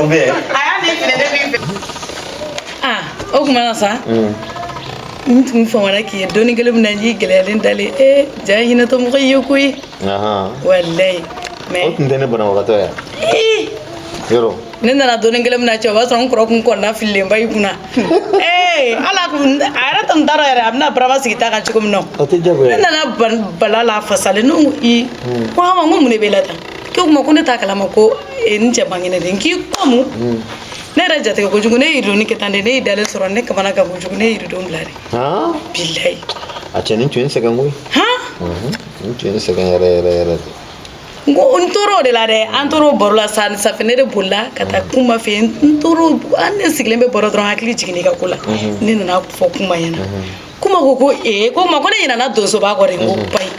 o bɛ yen a y'a ne filɛ ne b'i fɛ aa o kuma na sa n tun famana k'i ye don in kelen min na n y'i gɛlɛyalen dalen ee ja ye hinɛtɔ mɔgɔ ye koyi walayi o tun tɛ ne banabagatɔya yɔrɔ ne nana don in kelen min na cɛ o b'a sɔrɔ n kɔrɔ kun kɔnɔnafililenba y'i kunna ee ala kun a yɛrɛ tun t'a dɔn yɛrɛ a bɛna barama sigi ta kan cogo min na o tɛ jagoya ne nana bala la fasalen ne ko i ko a ma n ko mun de b'e la tan k'o kuma ko ne t'a kalama ko e, n cɛ man kɛnɛ de n k'i ko mun hmm. ne yɛrɛ jatigɛ kojugu ne yiridoni kɛ tan de ne y'i dalen sɔrɔ ne kamanagan kojugu ne yiridon bila de bilayi a cɛ nin tun ye n sɛgɛn koyi n tun ye n sɛgɛn yɛrɛ yɛrɛ yɛrɛ de n ko n tor'o de la dɛ an tor'o baro la sa sufɛ ne de bolila ka taa kuma fɛ n tor'o an ne sigilen bɛ baro dɔrɔn hakili jiginna i ka ko la ne nana fɔ kuma ɲɛna kuma ko ko ee ko ma ko ne ɲinana donsoba kɔ de n ko ba ye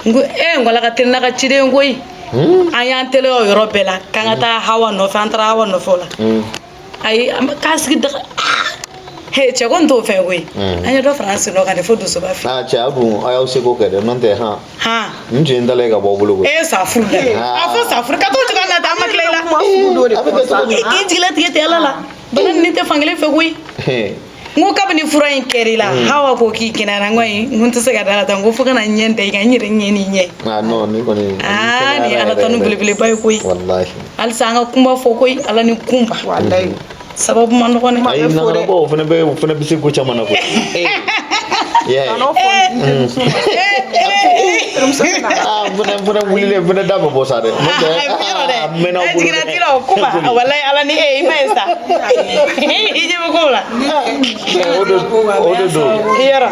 n ko ee n ko ala ka teli n'a ka ciden koyi an y'an teliya o yɔrɔ bɛɛ la k'an ka taa hawa nɔfɛ an taara hawa nɔfɛ o la ayi an bɛ k'an sigi daga he cɛ ko n t'o fɛ koyi an ye dɔ fara an sen dɔ kan de fo donsoba fɛ a cɛ a dun a y'aw seko kɛ dɛ n'o tɛ han han n tun ye n dalen ka bɔ aw bolo koyi e ye sa furu la a fɔ sa furu ka t'o cogoya la tan an ma tila i la a bɛ kɛ cogo di i jigilatigɛ tɛ ala la bana nin tɛ fankelen fɛ koyi n ko kabini fura in kɛr'i la mm. hawa ko k'i kɛnɛyara n ko ayi n ko n tɛ se ka da la tan n ko fo ka na n ɲɛ da i kan n yɛrɛ ɲɛ n'i ɲɛ ah, ah, ni ala tanu belebeleba ye koyi halisa an ka kunba fo koyi ala ni kunba sababu man dɔgɔn dɛ ayi nanabɔ o fana bɛ o fana bɛ se ko caman na koyi fana fana wulilen fana da bɛ bɔ sa dɛ a mɛnna bolo dɛ a jiginna tira o kuma walayi ala ni e i ma ye sa la yɔrɔ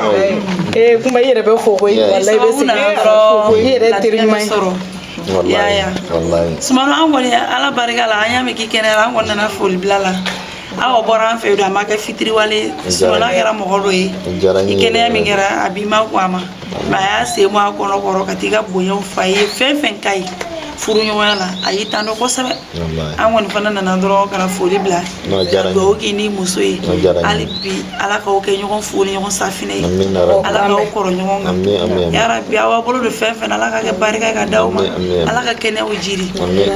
ee kuma i yɛrɛ bɛ fo koyi walayi bɛ segin i yɛrɛ fo i yɛrɛ teri ɲuman ye y'a ya sumano an kɔni ala barika la an y'a mɛn k'i kɛnɛyara an kɔni nana foli bila la aw bɔra an fɛ yen don a ma kɛ fitiriwale sumano kɛra mɔgɔ dɔ ye i kɛnɛya min kɛra a b'i ma ko a ma a y'a sen bɔ a kɔnɔ kɔrɔ ka t'i ka bonyaw f'a ye fɛn fɛn ka ɲi furuɲɔgɔnya la a y'i tando kosɛbɛ an kɔni fana nana dɔrɔn ka na foli bila dugawu k'i ni muso ye hali bi ala k'aw kɛ ɲɔgɔn fu ni ɲɔgɔn safinɛ ye ala k'aw kɔrɔ ɲɔgɔn kan yarabi aw bolo don fɛn fɛn ala ka kɛ barika ka d'aw ma ala ka kɛnɛyaw jiri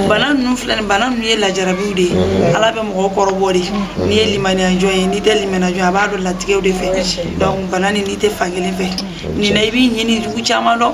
bana ninnu filɛ nin bana ninnu ye ala jarabiw de ye ala bɛ mɔgɔw kɔrɔbɔ de n'i ye limaniyajɔn ye n'i tɛ limaniyajɔn a b'a dɔn latigɛw de fɛ donc bana nin n'i tɛ fankelen fɛ nin na i b'i ɲin n'i jugu caman dɔn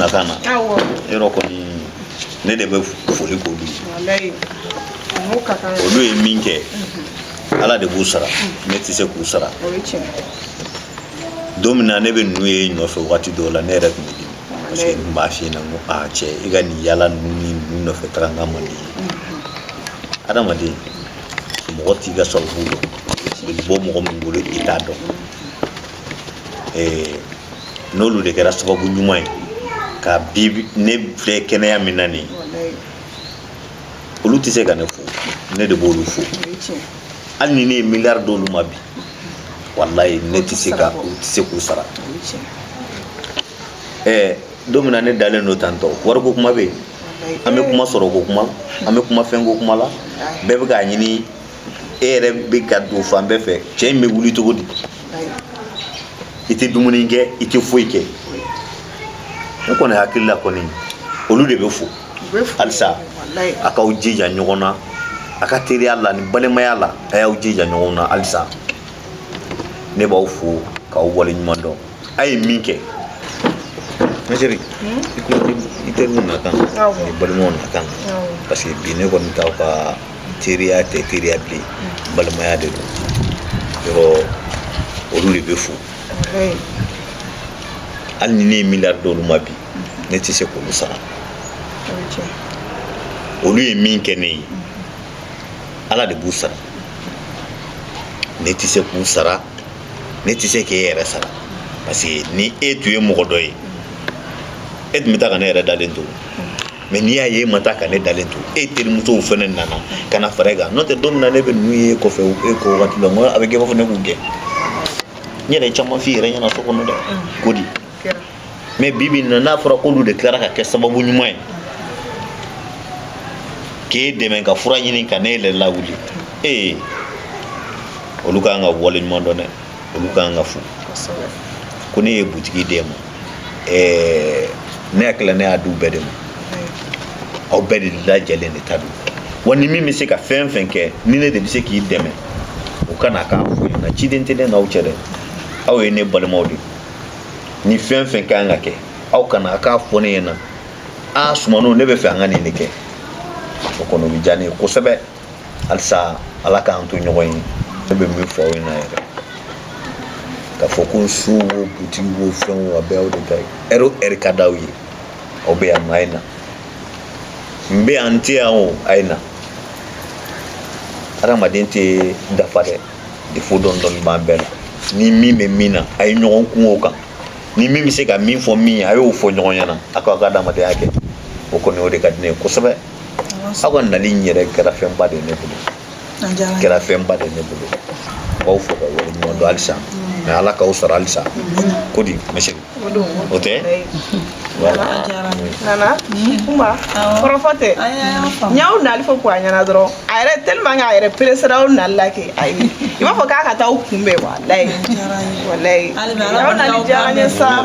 nakan na yɔrɔ kɔni ne de bɛ foli k'olu ye olu ye min kɛ ala de b'u sara ne tɛ se k'u sara don min na ne bɛ ninnu y'e nɔfɛ wagati dɔw la ne yɛrɛ tun bɛ dimi parce que n b'a f'i ɲɛna n ko a cɛ i ka nin yaala ninnu ni ninnu nɔfɛ taga n ka man di ye adamaden mɔgɔ t'i ka sababu dɔn bɛ bɔ mɔgɔ min bolo i t'a dɔn n'olu de kɛra sababu ɲuman ye ka bi ne filɛ kɛnɛya min na nin olu tɛ se ka ne fo ne de b'olu fo hali ni ne ye miliyari d'olu ma bi walayi ne tɛ se ka n tɛ se k'u sara ɛɛ don min na ne dalen don tantôt wariko kuma bɛ yen an bɛ kuma sɔrɔko kuma an bɛ kuma fɛnko kuma la bɛɛ bɛ k'a ɲini e yɛrɛ bɛ ka don fan bɛɛ fɛ cɛ in bɛ wuli cogo di i tɛ dumuni kɛ i tɛ foyi kɛ ne kɔni hakili la kɔni olu de bɛ fo halisa a k'aw jija ɲɔgɔn na a ka teriya la ni balimaya la a y'aw jija ɲɔgɔn na halisa ne b'aw fo k'aw waleɲuman dɔn a ye min kɛ ma chérie i ko i teriw na kan n'i balimaw na kan parce que bi ne kɔni t'aw ka teriya tɛ teriya bilen balimaya de don yɔrɔ olu de bɛ fo hali ni ne ye miliyari d'olu ma bi ne tɛ se k'olu sara olu ye min kɛ ne ye ala de b'u sara ne tɛ se k'u sara ne tɛ se k'e yɛrɛ sara parce que ni e tun ye mɔgɔ dɔ ye e tun bɛ taa ka ne yɛrɛ dalen to mais n'i y'a ye e ma taa ka ne dalen to e terimusow fana nana ka na fara e kan n'o tɛ don min na ne bɛ ninnu y'e kɔfɛ e ko wagati la n ko a bɛ kɛ i b'a fɔ ne k'u gɛn n yɛrɛ ye caman f'i yɛrɛ ɲɛna so kɔnɔ dɛ ko di mais bi bi in na n'a fɔra k'olu de tilara ka kɛ sababu ɲuman ye k'e dɛmɛ ka fura ɲini ka ne yɛrɛ lawuli ee eh, olu ka kan ka wale ɲuman dɔn dɛ olu ka kan ka fo ko ne ye butigi d'e ma ɛɛ eh, ne hakili la ne y'a di u bɛɛ de ma aw bɛɛ de lajɛlen de ta don wa ni min bɛ se ka fɛn fɛn kɛ ni ne de bɛ se k'i dɛmɛ o ka na k'a fɔ n ɲɛna ciden tɛ ne n'aw cɛ dɛ aw ye ne balimaw de ye ni fɛn fɛn ka kan ka kɛ aw ka na a k'a fɔ ne ɲɛna a sumano ne b'a fɛ an ka nin de kɛ o kɔni o bɛ diya ne ye kosɛbɛ halisa ala k'an to ɲɔgɔn ye ne bɛ min fɔ aw ɲɛna yɛrɛ k'a fɔ ko so wo butigi wo fɛn wo a bɛɛ y'aw de ta ye ɛri o ɛri ka d'aw ye aw bɛ yan nɔ a ye na n bɛ yan n tɛ yan o a ye na hadamaden tɛ dafa dɛ defo dɔɔni dɔɔni b'an bɛɛ la ni min bɛ min na a ye ɲɔgɔn kun o kan ni min bɛ se ka min fɔ min ye a y'o fɔ ɲɔgɔn ɲɛna a k'aw ka adamadenya kɛ o kɔni o de ka di ne ye kosɛbɛ aw ka nali in yɛrɛ kɛra fɛnba de ye ne bolo kɛra fɛnba de ye ne bolo n b'aw fo ka wale ɲuman dɔn halisa mɛ ala k'aw sara halisa ko di mɛ O don o tɛ nana kuma kɔrɔfɔ tɛ n y'aw nali fɔ ko a ɲɛna dɔrɔn a yɛrɛ tellement que a yɛrɛ peresera aw nali la kɛ ayi i b'a fɔ k'a ka taa aw kunbɛn walayi walayi aw nali diyara n ye sa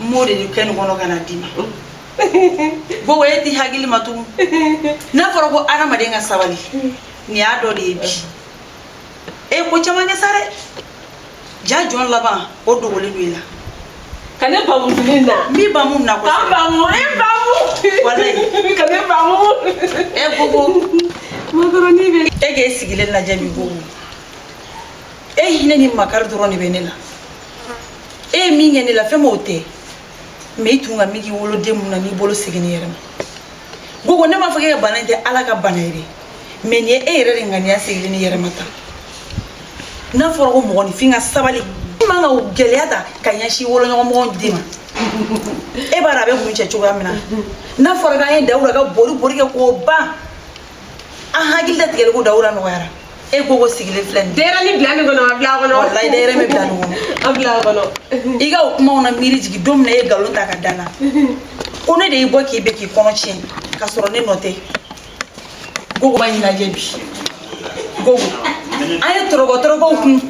n b'o de ni kɛ nin kɔnɔ ka na d'i ma gogo e t'i hakili ma tugun n'a fɔra ko adamaden ka sabali nin y'a dɔ de ye bi e ko caman kɛ sa dɛ jaa jɔn laban o dogolen don i la ka ne bamu fini na n b'i bamu na ka n bamu e bamu walayi ka ne bamu e gogo makaroni bɛ e k'e sigilen lajɛ bi gogo e hinɛ ni makari dɔrɔn de bɛ ne la e ye min kɛ ne la fɛn m'o tɛ mɛ i tun ka miki woloden mun na n'i bolo segin ne yɛrɛ ma gogo ne m'a fɔ k'e ka bana in tɛ ala ka bana ye dɛ mɛ nin ye e yɛrɛ de ŋaniya sigilen ne yɛrɛ ma tan n'a fɔra ko mɔgɔninfin ka sabali i man kan ka gɛlɛya ta ka ɲɛsin woloɲɔgɔn mɔgɔ den ma e b'a dɔn a bɛ kuncɛ cogoya min na n'a fɔra k'an ye dawura ka bori bori kɛ k'o ban an hakili latigɛlen ko dawura nɔgɔyara e gogo sigilen filɛ nin denyɛrɛni bila min kɔnɔ a bila a kɔnɔ walayi denyɛrɛni bɛ bila nin kɔnɔ a bila a kɔnɔ i ka o kumaw na miiri jigin don min na e ye nkalon ta ka da n na ko ne de y'i bɔ k'i bɛ k'i kɔnɔ tiɲɛ ka sɔrɔ ne nɔ tɛ gogo ma ɲɛnajɛ bi gogo an ye tɔrɔkɔ tɔrɔkɔw kun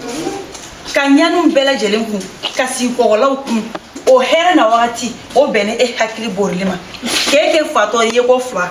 ka ɲaniw bɛɛ lajɛlen kun ka sigi kɔgɔlaw kun o hɛrɛ na wagati o bɛnni e hakili borili ma k'e kɛ fatɔ ye ko fila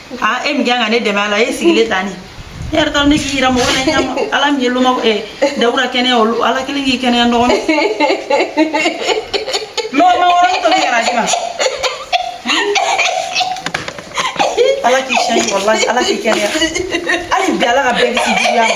aa e min kan ka ne dɛmɛ a la e sigilen ta ni ne yɛrɛ taara ne k'i yira mɔgɔ la ɲama ala min ye loma ɛ dawura kɛnɛya olu ala kelen k'i kɛnɛya nɔgɔ na lɔgɔ ma wɔrɔ tobi yɛrɛ a di ma ala k'i sɛn walayi ala k'i kɛnɛya hali bi ala ka bɛɛ kisi juguya ma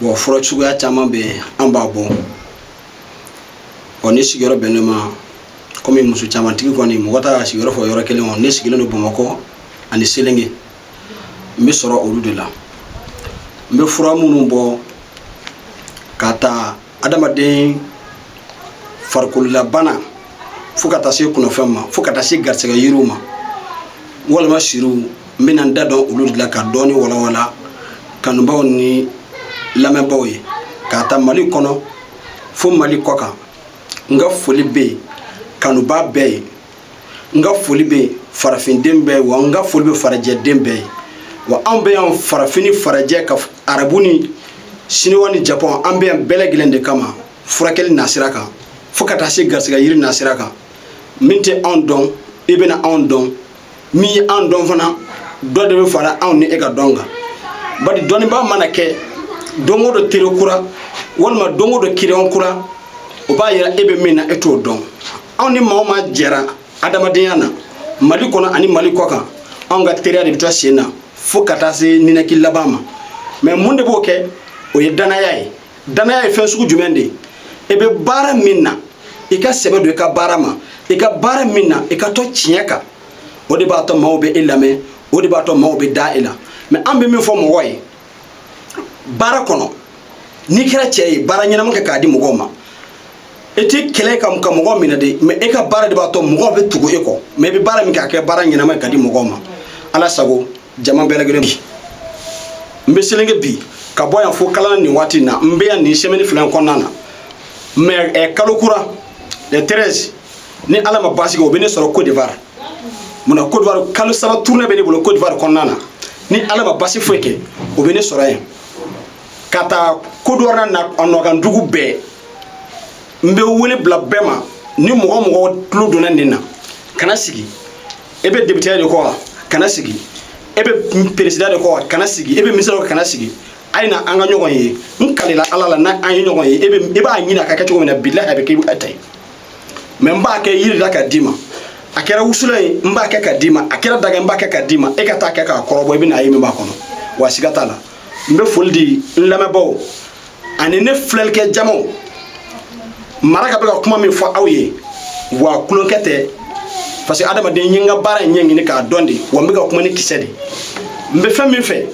bɔn fura suguya caman bɛ yen an b'a bɔ ɔ ne sigiyɔrɔ bɛn ne ma kɔmi muso camantigi kɔni mɔgɔ t'a ka sigiyɔrɔ fɔ yɔrɔ kelen kɔnɔ ne sigilen don bamakɔ ani selenge n bɛ sɔrɔ olu de la n bɛ fura minnu bɔ ka taa adamaden farikololabana fo ka taa se kungofɛn ma fo ka taa se garisɛgɛ yiriw ma walima siriw n bɛna n da don olu de la ka dɔɔni walawala kanubaaw ni lamɛnbaaw ye k'a ta mali kɔnɔ fo mali kɔ kan n ka foli bɛ kanubaa bɛɛ ye n ka foli bɛ farafinden bɛɛ ye wa n ka foli bɛ farajɛden bɛɛ ye wa anw bɛ yan farafin ni farajɛ ka arabu ni siniwa ni japɔn an bɛ yan bɛɛ lajɛlen de kama furakɛli nasira kan fo ka taa se garisigɛ yiri nasira kan min tɛ anw dɔn i bɛna anw dɔn min ye anw dɔn fana dɔ de bɛ fara anw ni e ka dɔn kan bari dɔnnibaa mana kɛ don o don teri kura walima don o don kiliyan kura o b'a yira e bɛ min na e t'o dɔn anw ni maa o maa jɛra adamadenya na mali kɔnɔ ani mali kɔ kan anw ka teriya de bɛ to sen na fo ka taa se ninaki laban ma mɛ mun de b'o kɛ o ye danaya ye danaya ye fɛn sugu jumɛn de ye i bɛ baara min na i ka sɛbɛ don i ka baara ma i ka baara min na i ka to tiɲɛ kan o de b'a to maaw bɛ e lamɛn o de b'a to maaw bɛ da e la mɛ an bɛ min fɔ mɔgɔ ye baara kɔnɔ n'i kɛra cɛ ye baara ɲɛnama kɛ k'a di mɔgɔw ma e tɛ kɛlɛ kɛ ka mɔgɔ minɛ de mɛ e ka baara de b'a to mɔgɔw bɛ tugu e kɔ mɛ i bɛ baara min kɛ a kɛ baara ɲɛnama ye ka di mɔgɔw ma ala sago jama bɛɛ lajɛlen bi n bɛ selenge bi ka bɔ yan fo kalana nin waati in na n bɛ yan nin sɛmɛni fila in kɔnɔna na mɛ ɛ kalo kura le 13 ni ala ma basi kɛ o bɛ ne sɔrɔ cote d'ivoire munna cote d'ivoire kalo saba tournée bɛ ne bolo cote d'ivoire kɔnɔna na ni ala ma basi foyi kɛ o bɛ ne sɔrɔ yen ka taa cote d'ivoire na a nɔkan dugu bɛɛ n bɛ wele bila bɛɛ ma ni mɔgɔ o mɔgɔ tulo donna nin na kana sigi e bɛ depiteya de kɔ wa kana sigi e bɛ peresida de kɔ wa kana sigi e bɛ minisiri kɔ kana sigi a ye na an ka ɲɔgɔn ye n kalila ala la n'an ye ɲɔgɔn ye e b'a ɲini a ka kɛ cogo min na bilahi a bɛ kɛ i ta ye mɛ n b'a kɛ yiri la ka d'i ma a kɛra wusulan ye n b'a kɛ ka d'i ma a kɛra daga n b'a kɛ ka d'i ma e ka taa kɛ k'a kɔrɔbɔ i bɛna a ye min b'a kɔnɔ wa siga t'a la n bɛ foli di n lamɛnbaaw ani ne filɛlikɛ jamaw mara ka bɛ ka kuma min fɔ aw ye wa tulonkɛ tɛ parce que adamaden n ye n ka baara in ɲɛɲini k'a dɔn de wa n bɛ ka kuma ni kisɛ de n bɛ fɛn min fɛ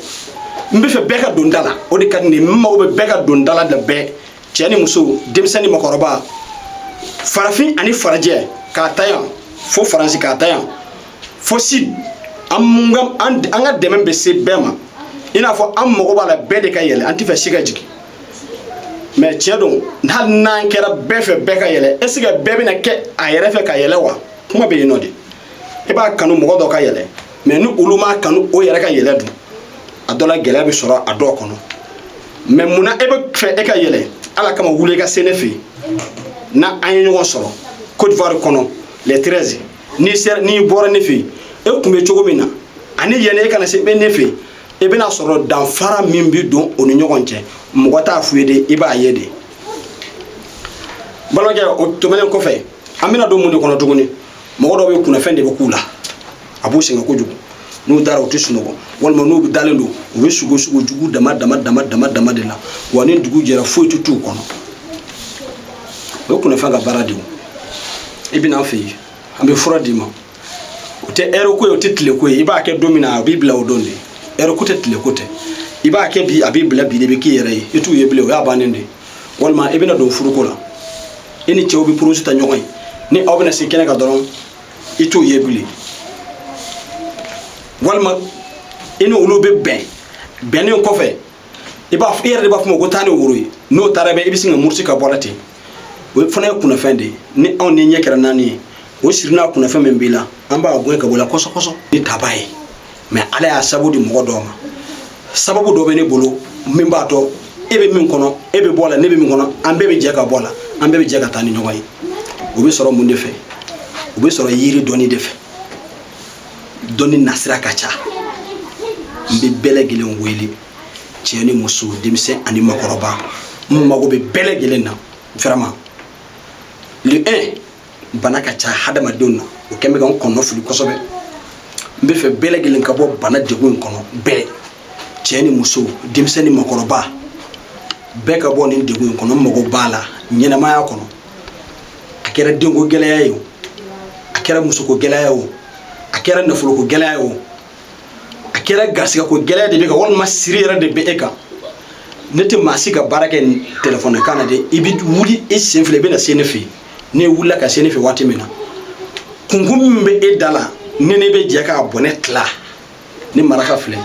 n b'a fɛ bɛɛ ka don da la o de ka di ne ye n mago bɛ bɛɛ ka don da la da bɛɛ cɛ ni muso denmisɛn ni mɔgɔkɔrɔba farafin ani farajɛ k'a ta yan fo faransi k'a ta yan fo sud an ka dɛmɛ bɛ se bɛɛ ma i n'a fɔ an mago b'a la bɛɛ de ka yɛlɛ an tɛ fɛ si ka jigin mais tiɲɛ don hali n'an kɛra bɛɛ fɛ bɛɛ ka yɛlɛ est ce que bɛɛ bɛna kɛ a yɛrɛ fɛ ka yɛlɛ wa kuma bɛ yen nɔ de i b'a kanu mɔgɔ dɔ ka yɛlɛ mais ni olu m'a kanu o yɛrɛ ka yɛlɛ dun a dɔ la gɛlɛya bɛ sɔrɔ a dɔw kɔnɔ mais mun na e bɛ fɛ e ka yɛlɛ ala kama wuli i ka se ne fɛ yen na an ye ɲɔgɔn sɔrɔ côte d'ivoire kɔnɔ le 13 n'i bɔra ne fɛ yen e tun bɛ cogo min na ani yanni e ka na se bɛ ne fɛ yen i bɛna sɔrɔ danfara min bɛ don o ni ɲɔgɔn cɛ mɔgɔ t'a f'u ye de i b'a ye de balimakɛ o tɛmɛnen kɔfɛ an bɛna don mun de kɔnɔ tuguni mɔgɔ dɔw bɛ kunnafɛn de bɛ k'u la a b'u sɛgɛn kojugu n'u dara u tɛ sunɔgɔ walima n'u dalen don u bɛ sugo sugo jugu dama dama dama dama dama de la wa ni dugu jɛra foyi tɛ t'u kɔnɔ o ye kunnafɛn ka baara de ye i bɛ na an fɛ yen an bɛ fura d'i ma o tɛ heure ko ye o tɛ tile ko ye i b'a kɛ don min na a b'i bila o don de heure ko tɛ tile ko tɛ i b'a kɛ bi a b'i bila bi de bɛ k'i yɛrɛ ye i t'u ye bilen o y'a bannen de ye walima i bɛna don furuko la e ni cɛw bɛ projet ta ɲɔgɔn ye ni aw bɛna se kɛnɛ kan dɔrɔn i t'u ye bilen walima i ni olu bɛ bɛn bɛnnen kɔfɛ i b'a i yɛrɛ de b'a f'u ma ko taa ni woro ye n'o taara bɛ i bɛ sin ka murusi ka bɔ la ten o fana ye kunnafɛn de ye ni anw n'i ɲɛ kɛra naani ye o siri n'a kunnafɛn min b'i la an b'a gɛn ka bɔ la kɔsɔkɔsɔ ni taba ye mais ala y'a sabu di mɔgɔ dɔ ma sababu dɔ bɛ ne bolo min b'a to e bɛ min kɔnɔ e bɛ bɔ la ne bɛ min kɔnɔ an bɛɛ bɛ jɛ ka bɔ la an bɛɛ bɛ jɛ ka taa ni ɲɔgɔn ye o bɛ sɔrɔ mun de fɛ o bɛ sɔrɔ yiri dɔnni de fɛ dɔnni nasira ka ca n bɛ bɛɛ lajɛlen wele cɛ ni muso denmisɛn ani makɔrɔba n mago bɛ bɛɛ lajɛlen na vraiment le 1 bana ka ca hadamadenw na o kɛn bɛ ka n kɔnɔ fili kosɛbɛ n bɛ fɛ bɛɛ lajɛlen ka bɔ bana degun in kɔnɔ bɛɛ cɛ ni muso denmisɛn ni makɔrɔba bɛɛ ka bɔ nin degun in kɔnɔ n mago b'a la ɲɛnamaya kɔnɔ a kɛra denko gɛlɛya ye o a kɛra musoko gɛlɛya ye o a kɛra nafoloko gɛlɛya ye o a kɛra garisigɛko gɛlɛya de b'e kan walima siri yɛrɛ de bɛ e kan ne tɛ maa si ka baara kɛ telefɔni kan na dɛ i bɛ wuli i sen fila i bɛ na se ne fɛ yen n'e wulila ka se ne fɛ waati min na kunko min bɛ e da la ne n'e bɛ jɛ k'a bɔnɛ tila ni maraka filɛ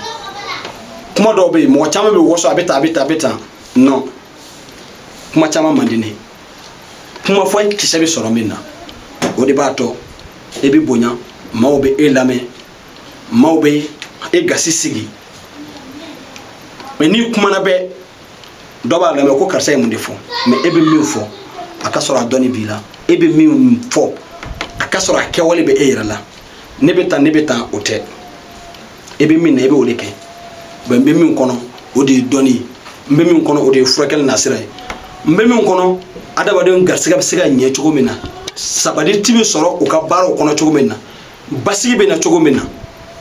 kuma dɔw bɛ yen mɔgɔ caman bɛ waso a bɛ tan a bɛ tan a bɛ tan non kuma caman man di ne ye kuma fɔ kisɛ bɛ sɔrɔ min na o de b'a to e bɛ bonya maaw bɛ e lamɛn maaw bɛ e gasi sigi mais n'i kumana bɛɛ dɔ b'a lamɛn ko karisa ye mun de fɔ mais e bɛ min fɔ a ka sɔrɔ a dɔnni b'i la e bɛ min fɔ a ka sɔrɔ a kɛwale bɛ e yɛrɛ la ne bɛ tan ne bɛ tan o tɛ e bɛ min na e bɛ o de kɛ mais n bɛ min kɔnɔ o de ye dɔnni ye n bɛ min kɔnɔ o de ye furakɛli nasira ye n bɛ min kɔnɔ adamadenw garisigɛ bɛ se ka ɲɛ cogo min na sabatili bɛ sɔrɔ u ka baaraw kɔnɔ cogo min na basigi bɛ na cogo min na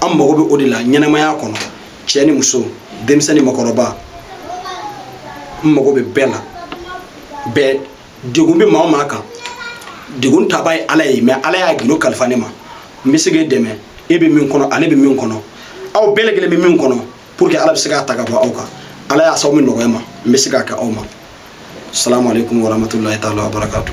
an mago bɛ o de la ɲɛnamaya kɔnɔ cɛ ni muso denmisɛn ni makɔrɔba n mago bɛ bɛɛ la bɛɛ degun bɛ maa o maa kan degun tabaa ye ala ye mais ala y'a gindo kalifa ne ma n bɛ se k'e dɛmɛ e bɛ min kɔnɔ ale bɛ min kɔnɔ aw bɛɛ lajɛlen bɛ min kɔnɔ pour que ala bɛ se k'a ta ka bɔ aw kan ala y'a sababu nɔgɔya ma n bɛ se k'a kɛ aw ma salamu aleykum warahmatulahi taala wabarakatu